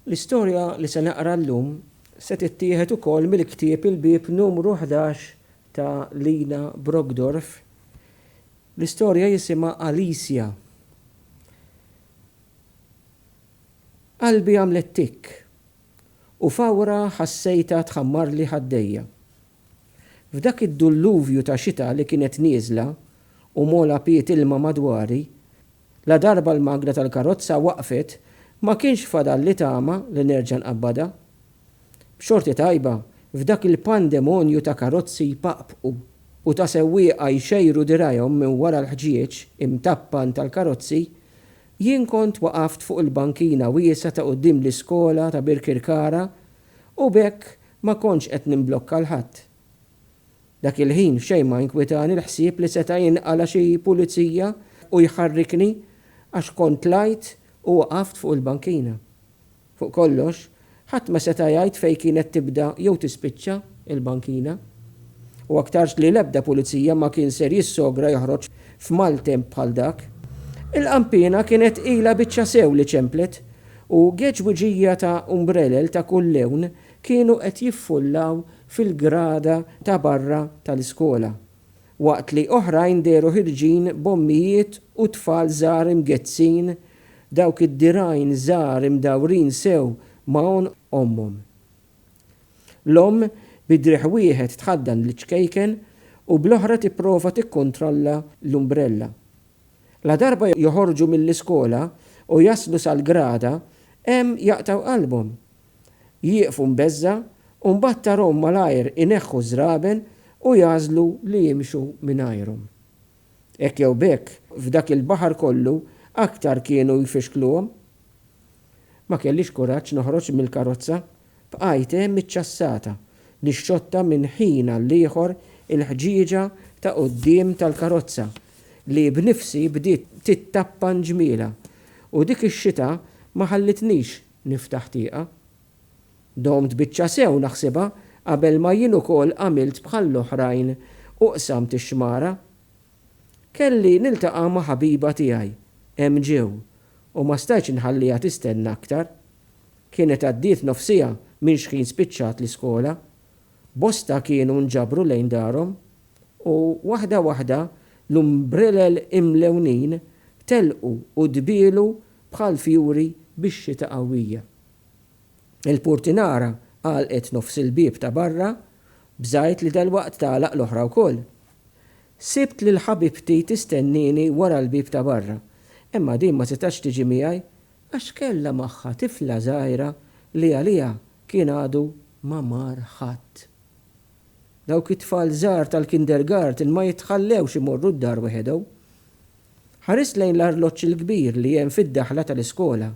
L-istorja li se naqra llum se tittieħed ukoll mill-ktieb Il-Bieb Numru Ħdax ta' Lina Brockdorff. L-istorja jisimha Alicia. Qalbi għamlet tikk, u fawra ħassejtha tħammarli ħaddejja. F'dak id-dulluvju ta' xita li kienet nieżla u mogħla piet ilma madwari, ladarba l-magna tal-karozza waqfet ma kienx fadalli tama li nerġa' nqabbadha. B'xorti tajba, f'dak il-pandemonju ta' karozzi jpaqpqu u ta' sewwieqa jxejru dirgħajhom minn wara l-ħġieġ imtappan tal-karozzi, jien kont waqaft fuq il-bankina wiesgħa ta' quddiem l-iskola ta' Birkirkara u b'hekk Ma kontx qed nimblokka 'l ħadd. Dak il-ħin f'xejn ma inkwitani l-ħsieb li seta' jinqala' xi pulizija u jħarrikni għax kont tlajt u waqaft fuq il-bankina. Fuq kollox, ħadd ma seta' jgħid fejn kienet tibda jew tispiċċa l-bankina. U aktarx li l-ebda pulizija ma kien ser jissogra joħroġ f'maltemp bħal dak. Il-qanpiena kienet ilha biċċa sew li ċemplet U geġwiġija ta' umbrelel ta' kull lewn kienu qed jiffullaw fil-grada ta' barra tal-iskola, waqt li oħrajn dehru ħirġin b'ommijiet u tfal żgħar imgezzin, dawk id-dirgħajn żgħar imdawrin sew ma' għonq ommhom. L-omm bi driegħ wieħed tħaddan liċ-ċkejken u bl-oħra tipprova tikkontrolla l-umbrella. Ladarba joħorġu mill-iskola u jaslu sal-grada, hemm jaqtgħu qalbhom. Jieqfu mbeżża' u mbagħad tarahom malajr ineħħu ż-żraben u jagħżlu li jimxu mingħajrhom. Hekk jew b'hekk, f'dak il-baħar kollu aktar kienu jfixkluhom. Ma kellix kuraġġ noħroġ mill-karozza. Bqajt hemm iċ-ċassata, nixxotta minn ħin għall-ieħor il-ħġieġa ta' quddiem tal-karozza li b'nifsi bdiet tittappa nġmielha u dik ix-xita ma ħallitnix niftaħ tieqa. Domt biċċa sew naħsibha qabel ma jien ukoll għamilt bħall-oħrajn u qsamt ix-xmara. Kelli niltaqa' ma' ħabiba tiegħi, hemm ġew, u ma stajtx inħalliha tistenna aktar. Kienet għaddiet nofsiegħa minn xħin spiċċat l-iskola. Bosta kienu nġabru lejn darhom u waħda waħda l-umbrelel imlewnin telqu u dbielu bħal fjuri bix-xita qawwija. Il-purtinara għalqet nofs il-bieb ta' barra b'żgħid li dalwaqt tagħlaq l-oħra wkoll. Sibt lil ħabibti tistennieni wara l-bieb ta' barra, imma din ma setax tiġi miegħi Għax kellha magħha tifla żgħira li għaliha kien għadu ma mar ħadd. Dawk it-tfal żgħar tal-kindergarten ma jitħallewx imorru d-dar wehedhom. Ħarist lejn l-arloġġ il-kbir li hemm fid-daħla tal-iskola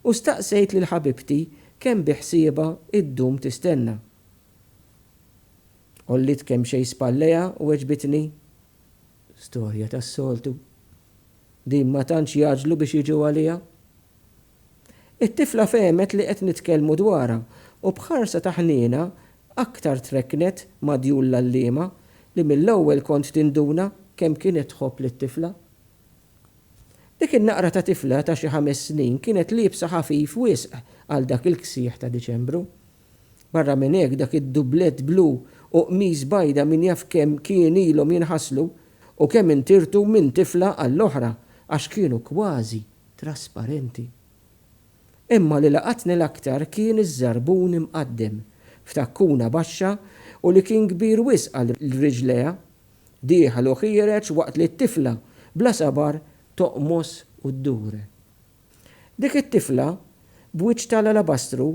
u staqsejt lil ħabibti kemm biħsiebha ddum tistenna. Għolliet kemxejn spallejha u weġbitni, Storja tas-soltu, din ma tantx jagħġlu biex jiġu għaliha. It-tifla fehmet li qed nitkellmu dwarha u b'ħarsa ta' ħniena aktar trekknet ma' djul l-għalliema li mill-ewwel kont tinduna kemm kienet tħobb lit-tifla. Dik in-naqra ta' tifla ta' xi ħames snin kienet liebsa ħafif wisq għal dak il-ksieħ ta' Diċembru. Barra minn hekk dak id-dublett blu u qmis bajda min jaf kemm kien ilhom jinħaslu u kemm intirtu minn tifla għall-oħra għax kienu kważi trasparenti. Imma li laqatni l-aktar kien iż-żarbun imqaddem f'takkuna baxxa u li kien kbir wisq għal riġlejha, dieħel u ħiereġ waqt li t-tifla bla sabar toqmos u ddur. Dik it-tifla, b'wiċċ tal-alabastru,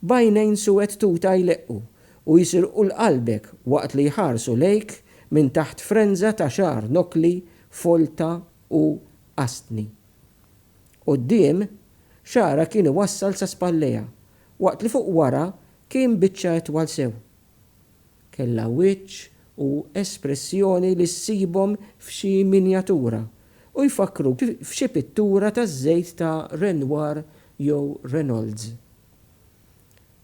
b'għajnejn suwed tuta jleqqu u jsirqu l-qalbek waqt li jħarsu lejk minn taħt frenża ta' xagħar nokli, folta u qastni. Quddiem, xagħarha kien iwassal sa spallejha, waqt li fuq wara kien biċċa itwal sew. Kellha wiċċ u espressjoni li ssibhom f'xi minjatura u jfakkruk f'xi pittura taż-żejt ta' Renoir jew Reynolds.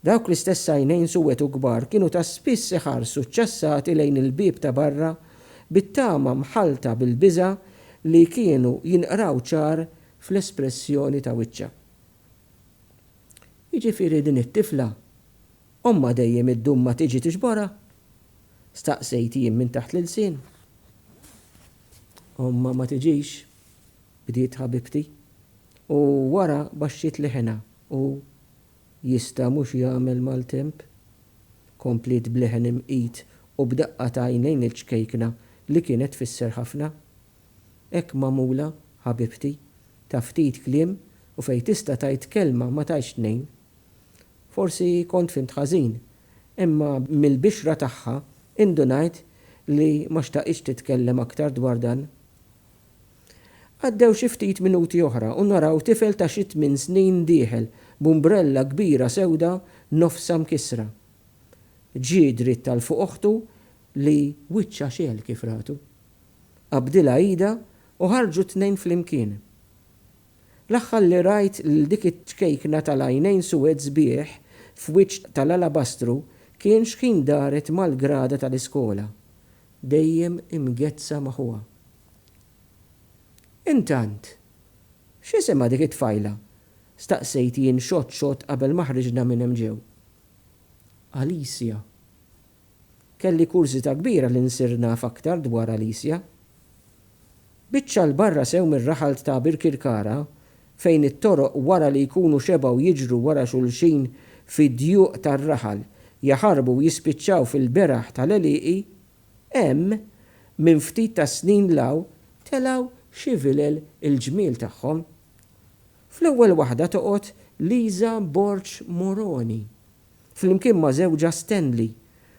Dawk l-istess għajnejn suwed u kbar kienu ta' spiss iħarsu ċċassati lejn il-bieb ta' barra bit-tama mħallta bil-biża' li kienu jinqraw ċar fl-espressjoni ta' wiċċha. Jiġifieri din it-tifla Ommha dejjem iddum ma tiġi tiġborha? staqsejt jien minn taħt l-ilsien. Ommha ma tiġix, bdiet ħabibti, u wara baxxiet leħinha u, Jista' mhux jagħmel maltemp? kompliet b'leħen imqit u b'daqqa ta' għajnejn il-ċkejkna li kienet tfisser ħafna. Hekk magħmula, ħabibti, ta' ftit kliem u fejn tista' tgħid kelma ma tgħidx tnejn. Forsi kont fhimt ħażin, imma mill-bixra tagħha indunajt li ma xtaqitx titkellem aktar dwar dan. Għaddew xi ftit minuti oħra u naraw tifel ta' xi tmien snin dieħel b'umbrella kbira sewda nofsha mkissra. Ġie dritt għal fuq oħtu li wiċċha xegħel kif ratu. Qabdilha idha u ħarġu t-tnejn flimkien. L-aħħar li rajt lil dik iċ-ċkejkna tal-għajnejn suwed sbieħ f'wiċċ tal-alabastru kien x'ħin daret mal-grada tal-iskola, dejjem imgezzha ma' ħuha. Intant, x'isimha dik it-tfajla? staqsejt jien xott xott qabel ma ħriġna minn hemm ġew. Alicia. Kelli kurżità kbira li nsir naf aktar dwar Alicia. Biċċa 'l barra sew mir-raħal ta' Birkirkara, fejn it-toroq wara li jkunu xebgħu jiġru wara xulxin fi djuq tar-raħal, jaħarbu u jispiċċaw fil-beraħ tal-għelieqi, hemm, minn ftit tas-snin 'l hawn, telgħu xi vilel il-ġmiel tagħhom. Fl-ewwel waħda toqgħod Liża Borg Moroni, flimkien ma' żewġha Stanley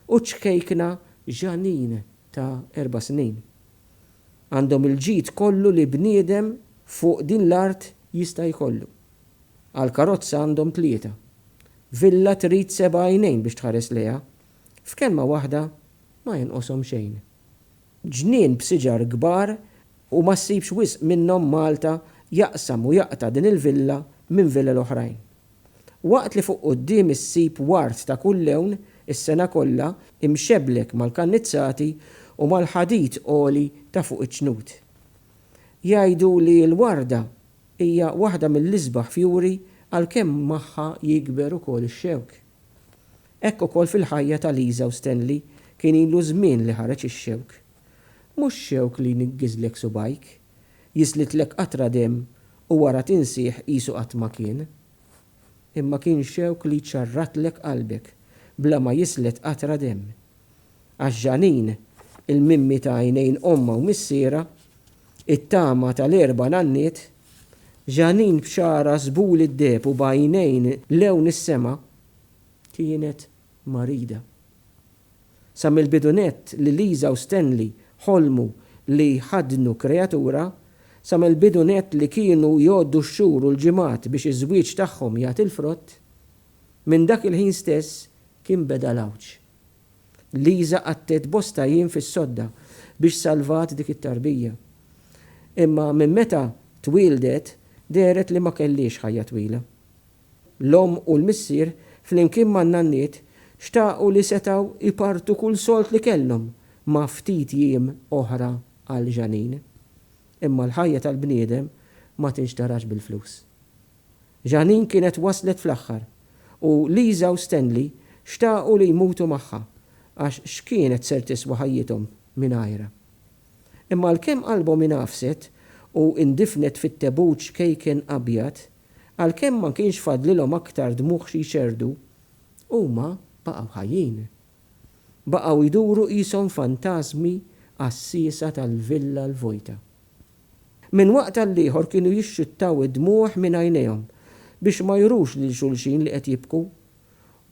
u ċ-ċkejkna Jeanine ta' erba' snin. Għandhom il-ġid kollu li bniedem fuq din l-art jista' jkollu. Għall-karozza għandhom tlieta. Villa trid seba' għajnejn biex tħares lejha. F'kelma waħda, ma jonqoshom xejn. Ġnien b'siġar kbar u ma ssibx wisq minnhom Malta jaqsam u jaqta' din il-villa minn villel oħrajn. Waqt li fuq quddiem issib ward ta' kull lewn, is-sena kollha, imxebblek mal-kannizzati u mal-ħadid għoli ta' fuq iċ-ċnut. Jgħidu li l-warda hija waħda mill-isbaħ fjuri għalkemm magħha jikber ukoll ix-xewk. Hekk ukoll fil-ħajja ta' Liża u Stanley kien ilu żmien li ħareġ ix-xewk. Mhux xewk li jniggiżlek subgħajk. Jiżlidlek qatra demm u wara tinsih qisu qatt ma kien. Imma kien xewk li jċarratlek qalbek bla ma jiżled qatra demm. Għax Jeanine, il-mimmi ta' għajnejn ommha u missierha, it-tama tal-erba' nanniet, Jeanine b'xagħarha żbul id-deheb u b'għajnejn lewn is-sema, kienet marida. Sa mill-bidu nett li Lisa u Stanley ħolmu li jħaddnu kreatura, sa mill-bidu nett li kienu jgħoddu x-xhur u l-ġimgħat biex iż-żwieġ tagħhom jagħti l-frott, minn dak il-ħin stess kien beda l-għawġ. Lisa qattiet bosta jiem fis-sodda biex salvat dik it-tarbija. Imma minn meta twieldet dehret li ma kellhiex ħajja twila. L-omm u l-missier, flimkien man-nanniet, xtaqu li setgħu jpartu kull sold li kellhom ma' ftit jiem oħra għal Jeanine. Imma l-ħajja tal-bniedem ma tinxtarax bil-flus. Jeanine kienet waslet fl-aħħar u Lisa u Stanley xtaqu li jmutu magħha għax x'kienet ser tiswa ħajjithom mingħajrha. Imma għalkemm qalbhom ingħafset u indifnet fit-tebuċ kejken abjad, Għalkemm ma kienx fadlilhom aktar dmugħ xi jxerrdu, huma baqgħu ħajjin. Baqgħu jduru qishom fantażmi għassiesa tal-villa l-vojta. Minn waqt għall-ieħor kienu jixxuttaw id-dmugħ minn għajnejhom biex ma jurux lil xulxin li qed jibku,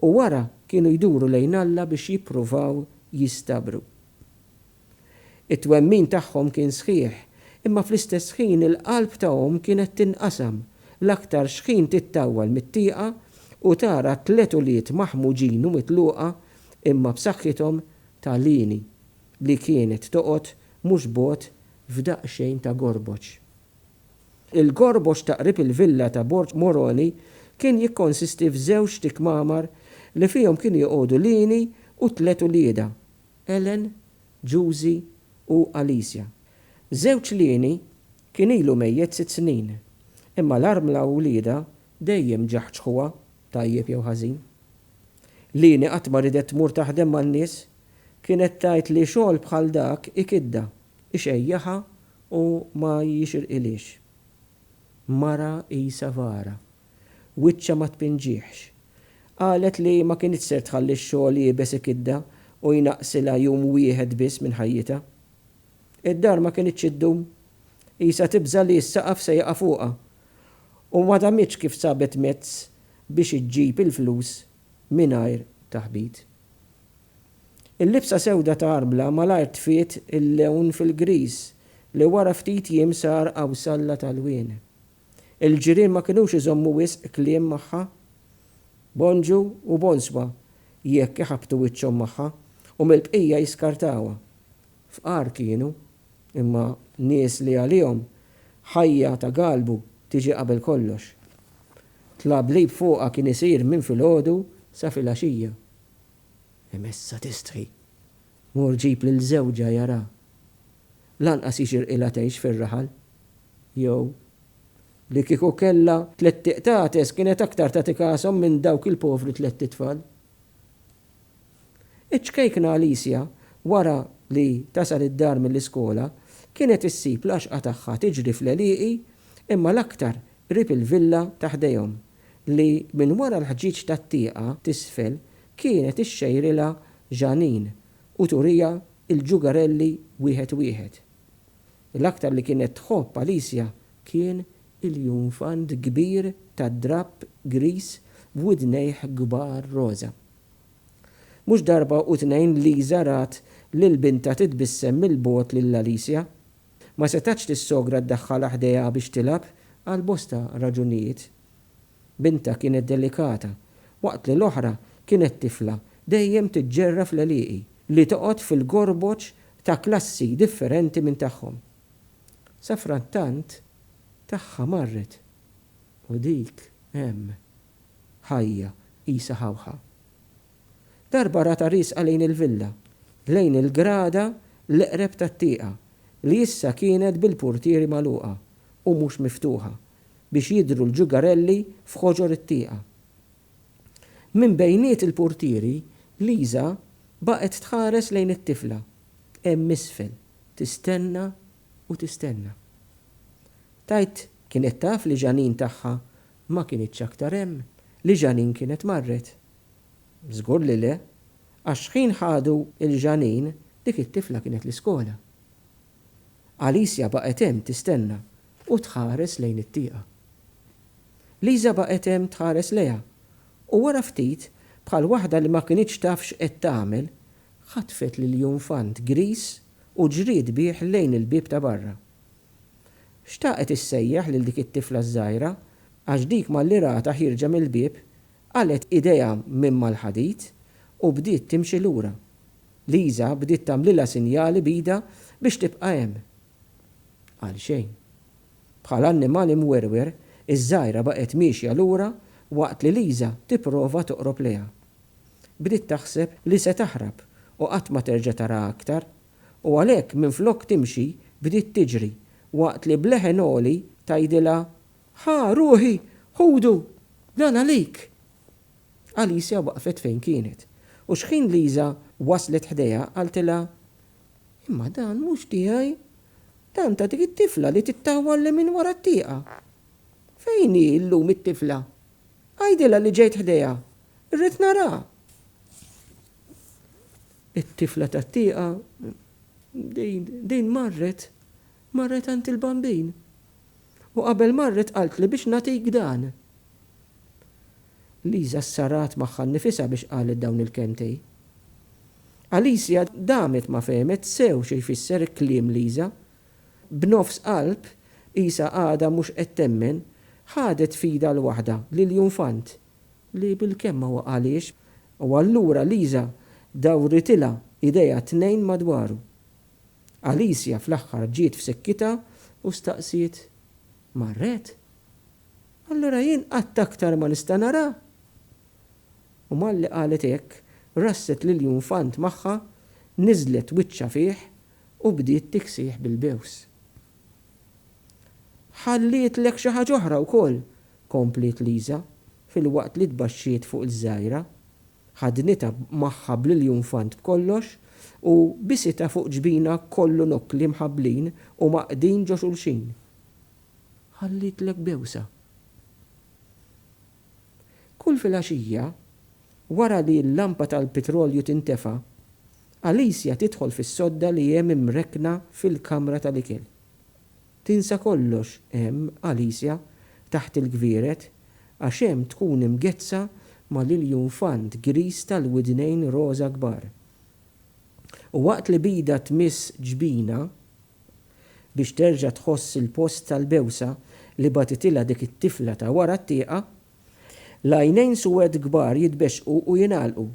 u wara kienu jduru lejn Alla biex jippruvaw jistabru. It-twemmin tagħhom kien sħiħ, imma fl-istess ħin il-qalb ta' omm kienet tinqasam, l-aktar xħin tittawwal mit-tieqa u tara tliet ulied maħmuġin u mitluqa imma b'saħħithom ta' Lini li kienet toqgħod mhux bogħod f'daqsxejn ta' gorboċ. Il-gorboċ ta' qrib il-villa ta' Borg Moroni kien jikkonsisti f'żewġt ikmamar li fihom kienu joqogħdu Lini u tliet uliedha. Ellen, Juzi u Alicia. Żewġ lieni kien ilu mejjet sitt snin, imma l-armla u wliedha dejjem ġaħġħuha, tajjeb jew ħażin. Lieni qatt ma ridet tmur taħdem man-nies, kienet tgħid li xogħol bħal dak ikiddha, ixejjaħha u ma jixirqilhiex. Mara qisha vara. Wiċċha ma tpinġihx. Qalet li ma kinitx ser tħalli x-xogħol iebes ikiddha u jnaqqsilha jum wieħed biss minn ħajjitha. Id-dar ma kinitx iddum. Qisha tibża' li s-saqaf se jaqa' fuqha u ma damitx kif sabet mezz biex iġġib il-flus mingħajr taħbit. Il-libsa sewda ta' Arbla malajr tfiet il-lewn fil-griż li wara ftit jiem sar għawsalla t'għalwien. Il-ġirien ma kinux iżommu wisq kliem magħha. Bonġu u bonswa jekk iħabbtu wiċċhom magħha u mill-bqija jiskartawha. Fqar kienu, imma nies li għalihom ħajja ta' galbu tiġi qabel kollox. Tlablib fuqha kien isir minn filgħodu sa filgħaxija. Emessa tistħi. Mur ġib lil żewġha jara. Lanqas jixirqilha tgħix fir-raħal. Jew, Li kieku kellha tlett iqtates kienet aktar tagħti kashom minn dawk il-povri tlett itfal. Iċ-ċkejkna Alicia, wara li tasal id-dar mill-iskola, kienet issib l-għaxqa tagħha tiġri fl-għelieqi imma l-aktar qrib il-villa ta' ħdejhom. li minn wara l-ħġieġ tat-tieqa t'isfel kienet ixxejrilha Jeanine u turiha l-ġugarelli wieħed wieħed. L-aktar li kienet tħobb Alicia kien il-junfant kbir tad-drapp griż b'widnejh kbar roża. Mhux darba u tnejn Lisa rat lil bintha titbissem mill-bogħod lil Alicia Ma setgħetx is-sogra ddaħħalha ħdejha biex tilgħab għal bosta raġunijiet. Bintha kienet delikata, waqt li l-oħra kienet tifla dejjem tiġġerra fl-għelieqi li toqgħod fil-gorboġ ta' klassi differenti minn tagħhom. Safrattant tagħha marret u dik hemm, ħajja qisha ħawħa. Darba ratha riesqa lejn il-villa, lejn il-grada l-eqreb tat-tieqa, li issa kienet bil-purtieri magħluqa u mhux miftuħa, biex jidhru l-ġugarelli f'ħoġor it-tieqa. Minn bejniet il-purtieri, Liża baqgħet tħares lejn it-tifla, hemm isfel, tistenna u tistenna. Tgħid kienet taf li Jeanine tagħha ma kinitx aktar hemm, li Jeanine kienet marret. Żgur li le, għax ħin ħadu 'l Jeanine dik it-tifla kienet l-iskola. Alicia baqgħet hemm tistenna u tħares lejn it-tieqa. Lisa baqgħet hemm tħares lejha u wara ftit, bħal waħda li ma kinitx taf x'qed tagħmel, ħatfet l-iljonfant griż u ġriet bih lejn il-bieb ta' barra. Xtaqet issejjaħ lil dik it-tifla ż-żgħira għax dik malli ratha ħierġa mill-bieb, Qalgħet idejha minn mal-ħadid u bdiet timxi lura. Lisa bdiet tagħmlilha sinjali b'idha biex tibqa' hemm. Għalxejn. Bħal annimal imwerwer, iż-żgħira baqgħet miexja lura waqt li Lisa tipprova toqrob lejha. Bdiet taħseb li se taħrab u qatt ma terġa' taraha aktar, u għalhekk minflok timxi bdiet tiġri waqt li b'leħen għoli tgħidilha Ħa, ruħi, ħudu! Dan għalik! Alicja waqfet fejn kienet, u xħin Liża waslet ħdejha qaltilha, Imma dan mhux tiegħi. Dan ta' dik it-tifla li tittawwal lil minn wara t-tieqa. Fejn hi llum it-tifla? Għidilha li ġejt ħdejha. Irrid naraha! It-tifla tat-tieqa, din, din marret. Marret għand il-Bambin u qabel marret qaltli biex nagħtik dan. Liża ssarat magħha nnifisha biex qalet dawn il-kelmtej. Alicia damet ma fehmet sew xi jfisser kliem Liża. B'nofs qalb, qisha għadha mhux qed temmen, ħadet f'idha l-waħda, lill-junfant, li bilkemm ma waqagħliex, u allura Liża dawritilha idejha t-tnejn madwaru. Alicia fl-aħħar ġiet f'sikkitha u staqsiet, Marret? Allura jien qatt aktar ma nista' narha? U malli qalet hekk, rasset lill-junfant magħha, niżlet wiċċha fih u bdiet tiksih bil-bews. Ħallietlek xi ħaġa oħra wkoll, kompliet Lisa filwaqt li tbaxxiet fuq il-żgħira. Ħadnitha magħha bl-iljun fant b'kollox u bisitha fuq ġbinha kollu nokkli mħabblin u mgħaqqdin ġo xulxin. Ħallitlek bewsa. Kull filgħaxija, wara li l-lampa tal-pitrolju tintefa', Alicia tidħol fis-sodda li hemm imrekkna fil-kamra tal-ikel. Tinsa kollox hemm, Alicia, taħt il-gvieret, għax hemm tkun imgezzha ma' l-iljunfant griż tal-widnejn roża kbar. U waqt li b'idha tmiss ġbinha, biex terġa' tħoss il-post tal-bewsa li bagħtitilha dik it-tifla ta' wara t-tieqa, l-għajnejn suwed kbar jitbexxqu u jingħalqu,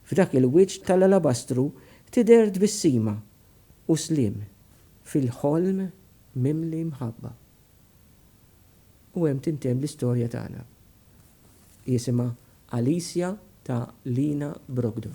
f'dak il-wiċċ tal-alabastru tidher tbissima, U sliem fil-ħolm mimli mħabba. U hemm tintemm l-istorja tagħna. Jisimha Alicia ta' Lina Brogdon.